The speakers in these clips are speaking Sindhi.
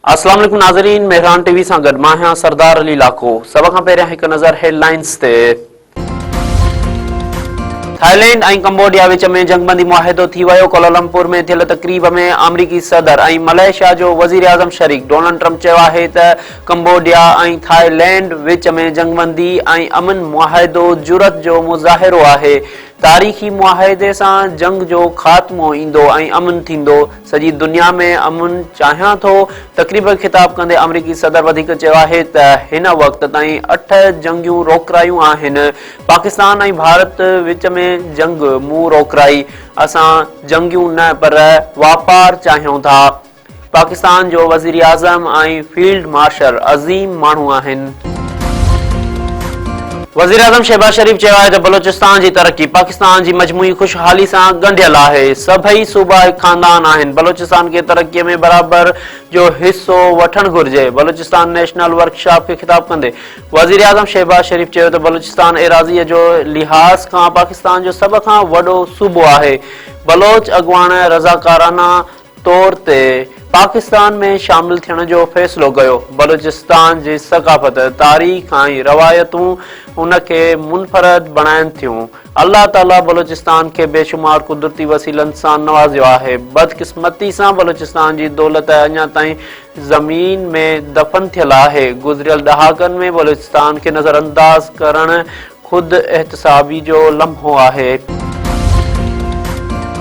السلام عليڪم ناظرين مهران ٽي وي سان گڏ مان آهيان سردار علي لاکو سڀ کان پهريان هڪ نظر هيڊ لائنز تي ٿائلينڊ ۽ ڪمبوڊيا وچ ۾ جنگبندي معاهدو ٿي ويو، ڪولالمپور ۾ ٿيل تقريب ۾ آمريڪي صدر ۽ ملائيشيا جو وزيراعظم شريڪ، ڊونلڊ ٽرمپ چيو آهي ته ڪمبوڊيا ۽ ٿائلينڊ وچ ۾ جنگبندي ۽ امن معاهدو جرئت جو مظاهرو آهي، تاريخي معاهدي سان جنگ جو خاتمو ايندو ۽ امن ٿيندو، سڄي دنيا ۾ امن چاهيان ٿو. تقريب کي خطاب ڪندي آمريڪي صدر وڌيڪ چيو آهي ته هن وقت تائين اٺ جنگيون روڪرايون آهن، پاڪستان ۽ ڀارت وچ ۾ جنگ مون روڪرائي، اسان جنگيون نه پر واپار چاهيون ٿا، پاڪستان جو وزيراعظم ۽ فيلڊ مارشل عظيم ماڻهو آهن. وزيراعظم شهباز شريف چيو آهي ته بلوچستان جي ترقي پاڪستان جي مجموعي خوشحالي سان ڳنڍيل آهي، سڀئي صوبا هڪ خاندان آهن، بلوچستان کي ترقي ۾ برابر جو حصو وٺڻ گهرجي، بلوچستان نيشنل ورڪشاپ کي خطاب ڪندي وزيراعظم شهباز شريف چيو ته بلوچستان ايراضيء جو لحاظ کان پاڪستان جو سڀ کان وڏو صوبو آهي، بلوچ اڳواڻ رضاڪارانه طور تي پاڪستان ۾ شامل ٿيڻ جو فيصلو ڪيو. بلوچستان جي ثقافت، تاريخ ۽ روايتون ان کي منفرد بڻائين ٿيون. الله تعاليٰ بلوچستان کي بيشمار قدرتي وسيلن سان نوازيو آهي. بدقسمتي سان بلوچستان جي دولت اڃا تائين زمين ۾ دفن ٿيل آهي. گذريل ڏهاڪن ۾ بلوچستان کي نظرانداز ڪرڻ خود احتسابي جو لمحو آهي.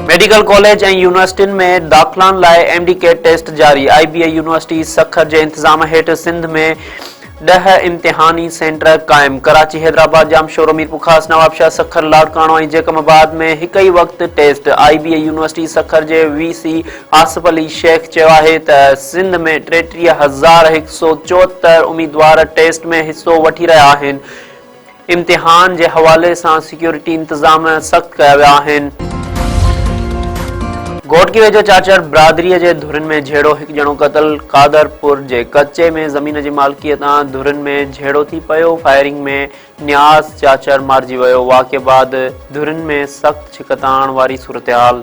ميڊيڪل ڪاليج ۽ يونيورسٽين ۾ داخلان لاء ايم ڊي ڪيٽ ٽيسٽ جاري، I B A university Sukkur جي انتظام هيٺ سنڌ ۾ ڏهه امتحاني سينٽر قائم، ڪراچي، حيدرآباد، ڄامشورو، ميرپورخاص، نوابشاهه، سکر، لاڙڪاڻو ۽ جيڪب آباد ۾ هڪ ئي وقت test, I B A university Sukkur جي وي سي آصف علي شيخ چيو آهي ته سنڌ ۾ ٽيٽيهه هزار هڪ سؤ چوهتر اميدوار ٽيسٽ ۾ حصو وٺي رهيا آهن، امتحان جي حوالي سان سيڪيورٽي انتظام سخت ڪيا ويا آهن. گهوٽڪي ويجهو چاچڙ برادري جي ڌرين ۾ جهيڙو، هڪ ڄڻو قتل، قادرپور جي ڪچي ۾ زمين جي مالڪيء تان ڌرين ۾ جهيڙو ٿي پيو، فائرنگ ۾ نياز چاچڙ مارجي ويو، واقعي بعد ڌرين ۾ سخت ڇڪتاڻ واري صورتحال.